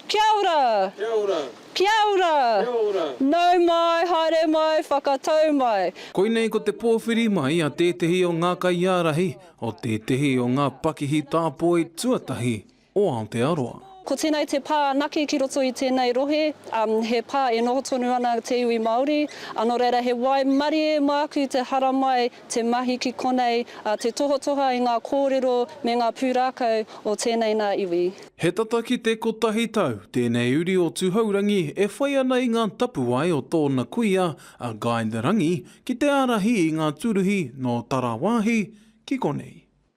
Kia ora! Kia ora! Kia ora! Kia ora! Nau mai, haere mai, whakatau mai! Koinei ko te pōwhiri mai a tētehi o ngā kaiārahi o tētehi o ngā pakihi tāpoi tuatahi o Aotearoa. Ko tēnei te pā anake ki roto i tēnei rohe, he pā e noho tonu ana te iwi Māori, nō reira he waimarie māku te haramai. te mahi ki konei, ā, te tohatoha i ngā kōrero me ngā pūrākau o tēnei nā iwi. He tata ki te kotahi tau tēnei uri o Tuhourangi e whai ana i ngā tapuwae o tōna kuia a Guy de Rangi ki te ārahi i ngā tūruhi nō Tarawāhi ki konei.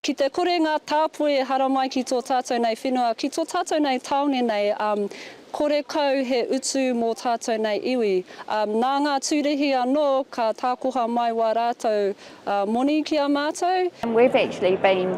Ki te kore ngā tāpoi e haramai ki tō tātou nei whenua, ki tō tātou nei tāone nei, kore kau he utu mō tātou nei iwi. Nā ngā tūrihi anō ka tākoha mai wā rātou moni ki a mātou. We've actually been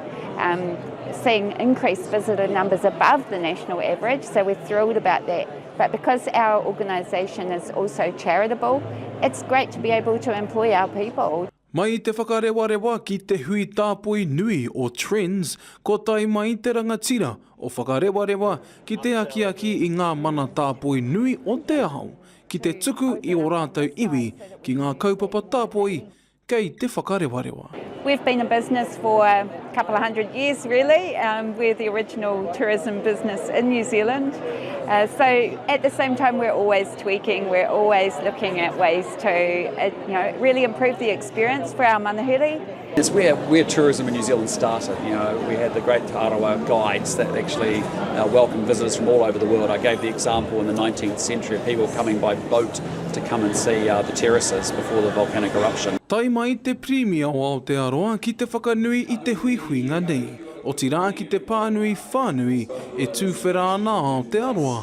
seeing increased visitor numbers above the national average, so we're thrilled about that. But because our organisation is also charitable, it's great to be able to employ our people. Mai i te whakarewarewa ki te hui tāpoi nui o Trends, kua tae mai te rangatira o Whakarewarewa ki te akiaki i ngā mana tāpoi nui o te ao ki te tuku i ō rātou iwi ki ngā kaupapa tāpoi kei te whakarewarewa. We've been in business for a couple of hundred years really, we're the original tourism business in New Zealand, so at the same time we're always Tweaking, we're always looking at ways to uh, you know, really improve the experience for our manuhiri. It's where, where tourism in New Zealand started. You know, we had the great Arawa guides that actually uh, welcomed visitors from all over the world. I gave the example in the 19th century of people coming by boat to come and see uh, the terraces before the volcanic eruption. Tai mai te Premier o Aotearoa ki te whakanui i te huihuinga nei, otirā ki te pānui whānui e tūwhera ana Aotearoa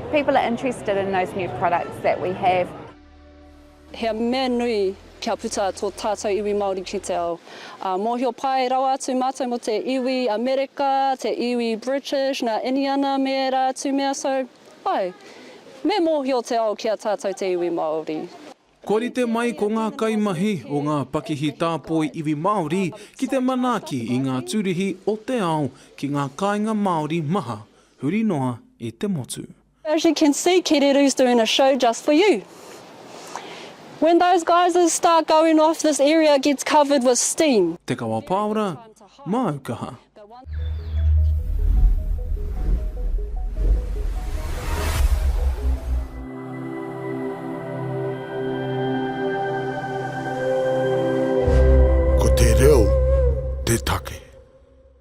People are interested in those new products that we have. He mea nui kia puta tō tātou iwi Māori ki te ao. Ā, mōhio pai rawa atu mātou mō te iwi Amerika, te iwi British, nā Iniana me ērā atu mea, so, āe, me mōhio te ao ki a tātou te iwi Māori. Kua rite mai ko ngā kaimahi o ngā pakihi tāpoi iwi Māori ki te manaaki i ngā tūrihi o te ao ki ngā kāinga Māori maha, huri noa i te motu. As you can see Kereru's doing a show just for you. When those guys start going off this area gets covered with steam. Te Kawa Pāora, Māu Kaha. Ko te reo te take.